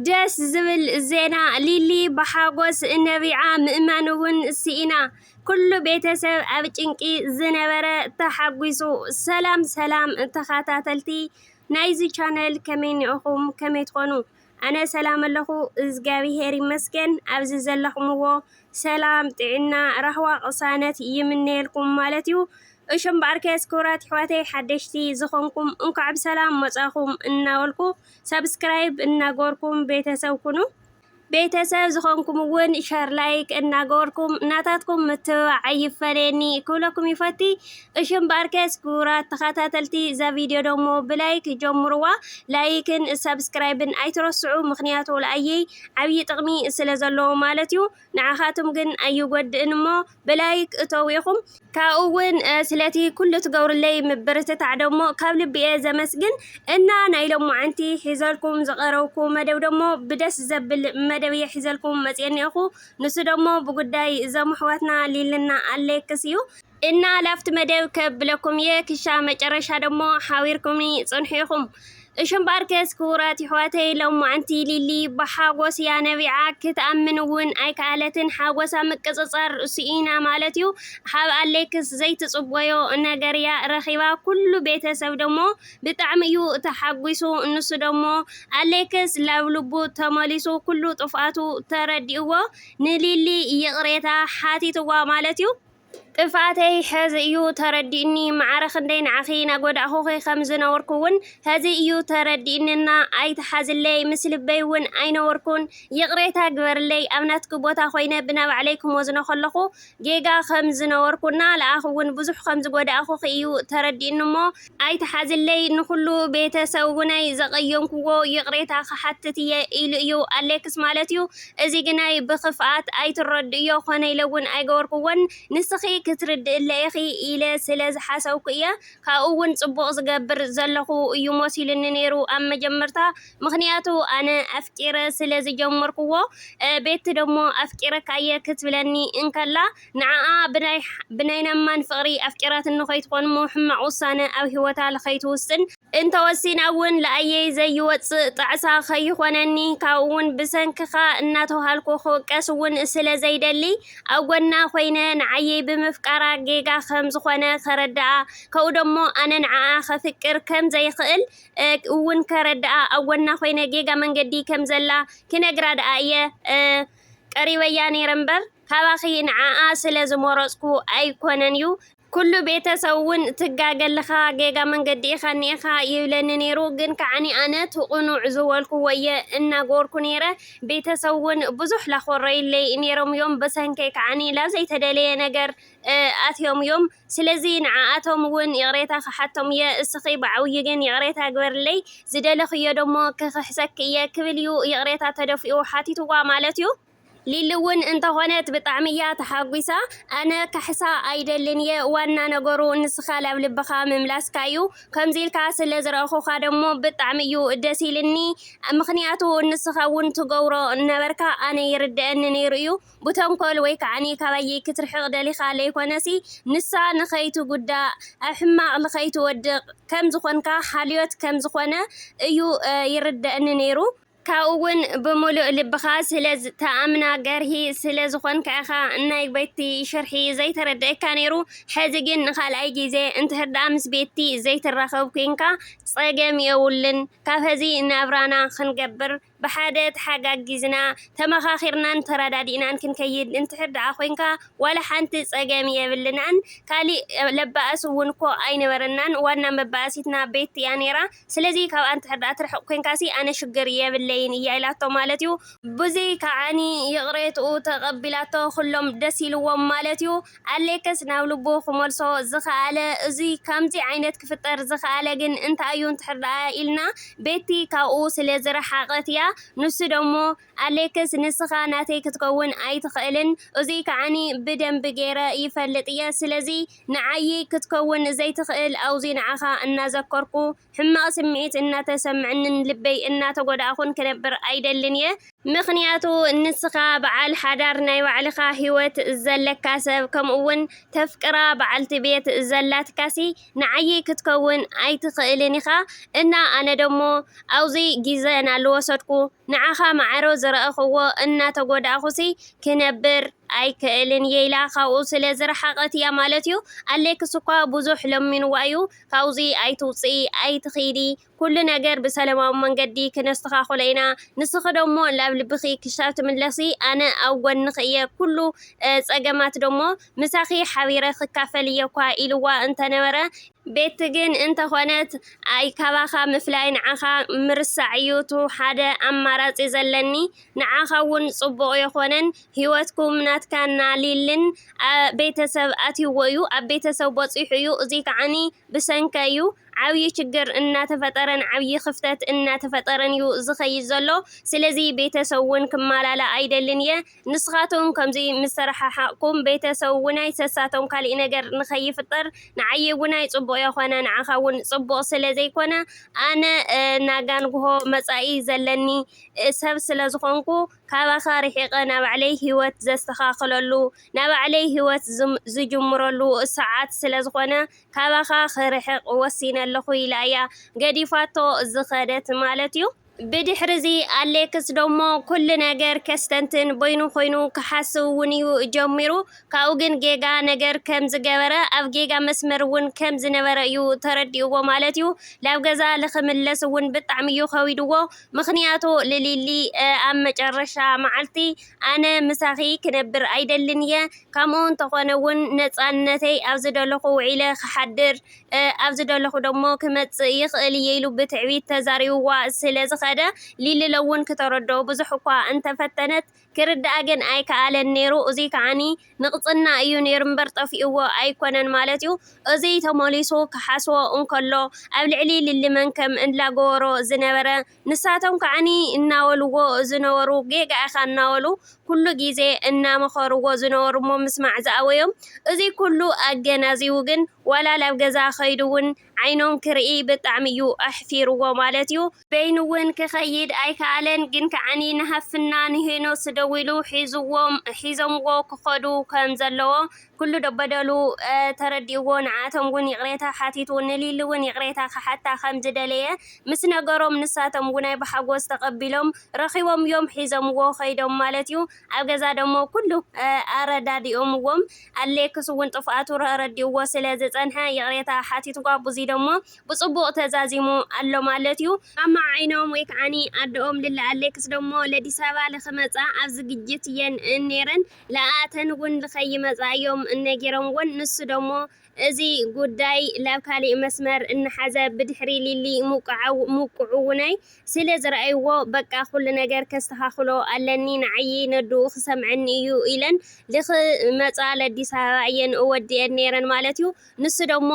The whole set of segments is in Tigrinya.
ደስ ዝብል ዜና ሊሊ ብሓጎስ ነቢዓ ምእማን እውን ስኢና ኩሉ ቤተሰብ ኣብ ጭንቂ ዝነበረ ተሓጒሱ። ሰላም ሰላም ተኻታተልቲ ናይዚ ቻነል ከመይ እኒኦኹም ከመይ ትኾኑ ኣነ ሰላም ኣለኹ እዝጋቢሄር ይመስገን ኣብዚ ዘለኹምዎ ሰላም ጥዕና ራህዋ ቅሳነት ይምነየልኩም ማለት እዩ እሽም በኣርከስ ክብራት ይሕዋተይ ሓደሽቲ ዝኾንኩም እንኳዕ ብሰላም መጻኹም እናበልኩ ሰብስክራይብ እናገበርኩም ቤተሰብ ኩኑ። ቤተሰብ ዝኾንኩም እውን ሸር ላይክ እናገበርኩም ናታትኩም ምትብባዕ ኣይፈለየኒ ክብለኩም ይፈቲ። እሺ እምበኣር ከስ ክቡራት ተኸታተልቲ እዛ ቪድዮ ደሞ ብላይክ ጀምርዋ። ላይክን ሰብስክራይብን ኣይትረስዑ፣ ምክንያቱ ለኣየይ ዓብዪ ጥቕሚ ስለ ዘለዎ ማለት እዩ። ንዓኻትም ግን ኣይጎድእን እሞ ብላይክ እተው ኢኹም። ካብኡ እውን ስለቲ ኩሉ ትገብሩለይ ምብርትታዕ ደሞ ካብ ልቢ እየ ዘመስግን እና ናይ ሎማዓንቲ ሒዘልኩም ዝቀረብኩ መደብ ደሞ ብደስ ዘብል መደብ እየ ሒዘልኩም መፅየ እኒኦኹ ንሱ ደሞ ብጉዳይ እዞም ኣሕዋትና ሊልና ኣሌክስ እዩ እና ላብቲ መደብ ከብለኩም እየ ክሻ መጨረሻ ደሞ ሓቢርኩምኒ ፅንሑ ኢኹም። እሺ እምበኣርከስ ክቡራት የሕዋተይ ሎማዕንቲ ሊሊ ብሓጎስ እያ ነቢዓ ክትኣምን እውን ኣይከኣለትን ሓጎሳ ምቅጽጻር ርእሱ ኢና ማለት እዩ ሓብ ኣሌክስ ዘይትጽቦዮ ነገር እያ ረኺባ ኩሉ ቤተሰብ ደሞ ብጣዕሚ እዩ ተሓጒሱ ንሱ ደሞ ኣሌክስ ላብ ልቡ ተመሊሱ ኩሉ ጥፍኣቱ ተረዲእዎ ንሊሊ ይቕሬታ ሓቲትዋ ማለት እዩ ጥፍኣተይ ሐዚ እዩ ተረዲኡኒ ማዓረ ክንደይ ንዓኺ ናጎዳእኹኺ ከም ዝነበርኩ ውን ሐዚ እዩ ተረዲኡኒ እና ኣይትሓዝለይ ምስ ልበይ ውን ኣይነበርኩን ይቅሬታ ግበርለይ ኣብ ናትኪ ቦታ ኮይነ ብናባዕለይ ክሞዝኖ ከለኹ ጌጋ ከም ዝነበርኩ እና ልኣኺ ውን ብዙሕ ከም ዝጎዳእኹኺ እዩ ተረዲኡኒ እሞ ኣይትሓዝለይ ንኹሉ ቤተሰውነይ ዘቐየምኩዎ ይቕሬታ ክሓትት እየ ኢሉ እዩ ኣሌክስ ማለት እዩ እዚ ግናይ ብኽፍኣት ኣይትረድእዮ ኮነ ኢለውን ኣይገበርኩዎን ንስኺ ክትርድእለ ኢኺ ኢለ ስለ ዝሓሰብኩ እየ ካብኡውን ጽቡቕ ዝገብር ዘለኹ እዩ መሲሉኒ ነይሩ ኣብ መጀመርታ ምኽንያቱ ኣነ ኣፍቂረ ስለ ዝጀመርኩዎ ቤቲ ደሞ ኣፍቂረካየ ክትብለኒ እንከላ ንዓኣ ብናይ ብናይ ናማን ፍቅሪ ኣፍቂራትኒ ከይትኮንሞ ሕማቅ ውሳነ ኣብ ሂወታ ልከይትውስን፣ እንተወሲና ውን ልኣየይ ዘይወጽእ ጣዕሳ ከይኮነኒ ካብኡ ውን ብሰንክካ እናተውሃልኩ ክውቀስ ውን ስለ ዘይደሊ ኣብ ጎና ኮይነ ንዓየይ ብምፍቃራ ጌጋ ከም ዝኮነ ከረድኣ ከኡ ደሞ ኣነ ንዓኣ ከፍቅር ከም ዘይክእል ውን ከረድኣ ኣብ ጎና ኮይነ ጌጋ መንገዲ ከም ዘላ ክነግራ ድኣ እየ ቀሪበያ ነይረ እምበር ካባኺ ንዓኣ ስለ ዝመረጽኩ ኣይኮነን ዩ። ኩሉ ቤተሰብ ውን ትጋገለኻ ጌጋ መንገዲ ኢኻ እኒኤኻ ይብለኒ ነይሩ ግን ከዓኒ ኣነ ትቕኑዕ ዝበልኩዎ እየ እናገበርኩ ነይረ ቤተሰብ ውን ብዙሕ ላኾረዩለይ ነይሮም ዮም ብሰንከይ ከዓኒ ላብ ዘይተደለየ ነገር ኣትዮም ዮም ስለዚ ንዓኣቶም ውን ይቕሬታ ክሓቶም እየ እስኺ ብዓብዩ ግን ይቕሬታ ግበርለይ ዝደለኽዮ ደሞ ክኽሕሰኪ እየ ክብል ዩ ይቕሬታ ተደፊኡ ሓቲትዋ ማለት ዩ። ሊሊ ውን እንተኾነት ብጣዕሚ እያ ተሓጒሳ ኣነ ካሕሳ ኣይደልን እየ ዋና ነገሩ ንስኻ ላብ ልብኻ ምምላስካ ዩ ከምዚ ኢልካ ስለ ዝረኣኹኻ ደሞ ብጣዕሚ እዩ ደስ ኢልኒ ምኽንያቱ ንስኻ ውን ትገብሮ ነበርካ ኣነ ይርደኣኒ ነይሩ እዩ ብተንኮል ወይ ከኣኒ ካባየይ ክትርሕቅ ደሊካ ለይኮነሲ ንሳ ንከይትጉዳእ ኣብ ሕማቅ ልከይትወድቅ ከም ዝኮንካ ሓልዮት ከም ዝኮነ እዩ ይርደእኒ ነይሩ ካብኡ ውን ብሙሉእ ልብካ ስለ ትኣምና ገርሂ ስለ ዝኮንካ ኢካ ናይ ቤቲ ሽርሒ ዘይተረደኣካ ነይሩ ሕዚ ግን ንካልኣይ ግዜ እንድሕር ደኣ ምስ ቤቲ ዘይትራከብ ኮንካ ጸገም የቡሉን ካብ ሕዚ ናብራና ክንገብር ብሓደ ተሓጋጊዝና፣ ተመኻኺርናን ተረዳዲእናን ክንከይድ እንድሕር ደኣ ኮይንካ ዋላ ሓንቲ ጸገም የብልናን። ካሊእ ለባእስ ውን እኮ ኣይነበረናን፣ ዋና መባኣሲትና ቤቲ እያ ኔራ። ስለዚ ካብኣ እንድሕር ደኣ ትርሕቕ ኮይንካሲ ኣነ ሽግር የብለይን እያ ኢላቶ ማለት እዩ። ብዙይ ከኣ ይቕሬትኡ ተቐቢላቶ ኩሎም ደስ ኢልዎም ማለት እዩ። ኣሌክስ ናብ ልቡ ክመልሶ ዝኸኣለ እዙይ ከምዙይ ዓይነት ክፍጠር ዝኸኣለ ግን እንታይ እዩ እንድሕር ደኣ ኢልና ቤቲ ካብኡ ስለ ዝረሓቐት እያ። ንሱ ደሞ ኣሌክስ ንስኻ ናተይ ክትከውን ኣይትኽእልን እዙይ ከዓኒ ብደንቢ ገይረ ይፈልጥ እየ ስለዙይ ንዓይይ ክትከውን ዘይትኽእል ኣውዙይ ንዓኻ እናዘከርኩ ሕማቕ ስምዒት እናተሰምዐንን ልበይ እናተጎዳእኹን ክነብር ኣይደልን እየ። ምኽንያቱ ንስኻ በዓል ሓዳር ናይ ባዕልኻ ሂወት ዘለካ ሰብ ከምኡ ውን ተፍቅራ በዓልቲ ቤት ዘላትካሲ ንዓይይ ክትከውን ኣይትኽእልን ኢኻ እና ኣነ ደሞ ኣውዚ ጊዘ ናልወሰድኩ ንዓኻ ማዕረ ዝረኣኹዎ እናተጎዳእኹሲ ክነብር ኣይክእልን እየ ኢላ ካብኡ ስለዝረሓቐት እያ ማለት እዩ ኣሌክስኳ ብዙሕ ለሚንዋ እዩ ካብዚ ኣይትውፅኢ ኣይትኺዲ ኩሉ ነገር ብሰለማዊ መንገዲ ክነስተኻኽሎ ኢና ንስኺ ደሞ ላብ ልብኺ ክሻብ ትምለሲ ኣነ ኣብ ጎንኺ እየ ኩሉ ፀገማት ደሞ ምሳኺ ሓቢረ ክካፈል እየ እኳ ኢልዋ እንተነበረ ቤቲ ግን እንተኾነት ኣይ ካባኻ ምፍላይ ንዓኻ ምርሳዕ እዩ እቱ ሓደ ኣማራፂ ዘለኒ። ንዓኻ ውን ጽቡቅ የኾነን ሂወትኩም ናትካ እና ሊልን ኣብ ቤተሰብ ኣትይዎ እዩ ኣብ ቤተሰብ በጺሑ እዩ እዙይ ከዓኒ ብሰንካ እዩ ዓብይ ችግር እናተፈጠረን ዓብይ ክፍተት እናተፈጠረን እዩ ዝኸይድ ዘሎ ስለዚ ቤተሰብ ውን ክማላላእ ኣይደልን እየ ንስኻትኩም ከምዙይ ምስ ተረሓሓቅኩም ቤተሰብ ውን ኣይሰሳቶም ካሊእ ነገር ንኸይፍጠር ንዓይ ውን ኣይጽቡቅ የኾነ ንዓኻ ውን ጽቡቅ ስለዘይኮነ ኣነ ናጋንግሆ መጻኢ ዘለኒ ሰብ ስለ ዝኾንኩ ካባኻ ርሒቐ ናባዕለይ ሂወት ዘስተኻኽለሉ ናባዕለይ ሂወት ዝጅምረሉ ሰዓት ስለ ዝኾነ ካባኻ ክርሕቕ ወሲነ ኣለኹ ኢላ እያ ገዲፋቶ ዝኸደት ማለት እዩ። ብድሕሪዚ ኣሌክስ ደሞ ኩሉ ነገር ከስተንትን በይኑ ኮይኑ ክሓስብ እውን እዩ ጀሚሩ። ካብኡ ግን ጌጋ ነገር ከም ዝገበረ ኣብ ጌጋ መስመር እውን ከም ዝነበረ እዩ ተረዲእዎ ማለት እዩ። ናብ ገዛ ልክምለስ እውን ብጣዕሚ እዩ ከቢድዎ። ምኽንያቱ ልሊሊ ኣብ መጨረሻ መዓልቲ ኣነ ምሳኺ ክነብር ኣይደልን እየ ከምኡ እንተኾነ እውን ነፃነተይ ኣብ ዝደለኹ ውዒለ ክሓድር ኣብ ዝደለኹ ደሞ ክመፅእ ይኽእል እየ ኢሉ ብትዕቢት ተዛሪብዋ ስለ ዝኸደ ሊሊ ለውን ክተረድኦ ብዙሕ እኳ እንተፈተነት ክርዳኣ ግን ኣይከኣለን ነይሩ። እዙይ ከዓ ንቕፅና እዩ ነይሩ እምበር ጠፊኡዎ ኣይኮነን ማለት እዩ። እዙይ ተመሊሱ ክሓስቦ እንከሎ ኣብ ልዕሊ ሊሊ መንከም እንላገበሮ ዝነበረ ንሳቶም ከዓ እናበሉዎ ዝነበሩ ጌጋ ኢኻ እናበሉ ኩሉ ጊዜ እናመኸሩዎ ዝነበሩ እሞ ምስማዕ ዝኣበዮም እዙይ ኩሉ ኣገናዚቡ ግን ዋላ ላብ ገዛ ከይዱ እውን ዓይኖም ክርኢ ብጣዕሚ'ዩ ኣሕፊርዎ ማለት'ዩ። በይኑ'ውን ክኸይድ ኣይከኣለን፣ ግን ከዓኒ ንሃፍትና ንሄኖስ ደዊሉ ሒዙዎም ሒዞምዎ ክኸዱ ከም ዘለዎ ኩሉ ደበደሉ ተረዲኡዎ ንዓኣቶም'ውን ይቕሬታ ሓቲቱ ንሊሊ'ውን ይቕሬታ ክሓታ ከም ዝደለየ ምስ ነገሮም ንሳቶም'ውናይ ብሓጎስ ተቐቢሎም ረኺቦም'ዮም ሒዞምዎ ከይዶም ማለት'ዩ። ኣብ ገዛ ደሞ ኩሉ ኣረዳዲኦምዎም። ኣሌክስ ውን ጥፍኣቱ ረዲኡዎ ስለ ዝጸንሐ ይቕሬታ ሓቲቱዋ ብዙይ ደሞ ብጽቡቕ ተዛዚሙ ኣሎ ማለት ዩ። ማማ ዓይኖም ወይ ከዓኒ ኣደኦም ልለ ኣሌክስ ደሞ ለዲሳባ ልክመጻ ኣብ ዝግጅት እየን እኔረን ልኣኣተን ውን ልከይመጻ እዮም እነጊሮምወን ንሱ ደሞ እዚ ጉዳይ ላብ ካሊእ መስመር እናሓዘ ብድሕሪ ሊሊ ሙቁዑውነይ ስለ ዝረኣይዎ በቃ ኩሉ ነገር ከስተኻኽሎ ኣለኒ ንዓይይ ነድኡ ክሰምዐኒ እዩ ኢለን ልክመፃ ለዲስ ኣበባ እየን እወድኤን ነይረን ማለት እዩ ንሱ ደሞ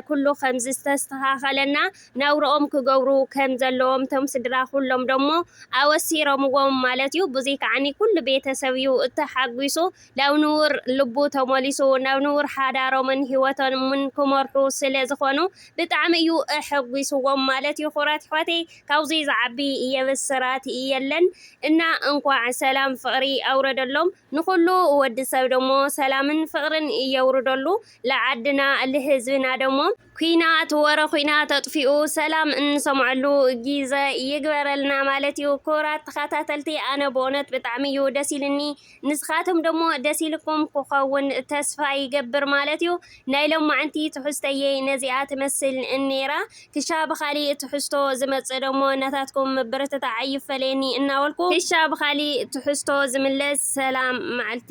ኩሉ ከምዝተስተኻኸለና ናብርኦም ክገብሩ ከም ዘለዎም እቶም ስድራ ኩሎም ደሞ ኣወሲረምዎም ማለት እዩ ብዙይ ከዓኒ ኩሉ ቤተሰብ እዩ እተሓጒሱ ናብ ንቡር ልቡ ተመሊሱ ናብ ንቡር ሓዳሮምን ሂወቶምን ክመርሑ ስለ ዝኮኑ ብጣዕሚ እዩ ኣሐጉስዎም ማለት ይኩራት ይሕዋተይ ካብዙይ ዝዓቢ የብስራት የለን እና እንኳዕ ሰላም ፍቅሪ ኣውረደሎም ንኩሉ ወዲ ሰብ ደሞ ሰላምን ፍቅርን የውርደሉ ልዓድና ልህዝብና ደሞ ኲናት ወረ ኲናት ኣጥፊኡ ሰላም እንሰምዐሉ ጊዘ ይግበረልና ማለት እዩ ክብራት ተኸታተልቲ ኣነ ብእውነት ብጣዕሚ እዩ ደስ ኢልኒ ንስኻትም ደሞ ደስ ኢልኩም ክኸውን ተስፋ ይገብር ማለት እዩ ናይ ሎማዕንቲ ትሕዝተየይ ነዚኣ ትመስል እኔራ ክሻ ብኻሊእ ትሕዝቶ ዝመጽእ ደሞ ናታትኩም ምብርትታዕ ኣይፈለየኒ እናበልኩ ክሻ ብኻሊእ ትሕዝቶ ዝምለስ ሰላም መዓልቲ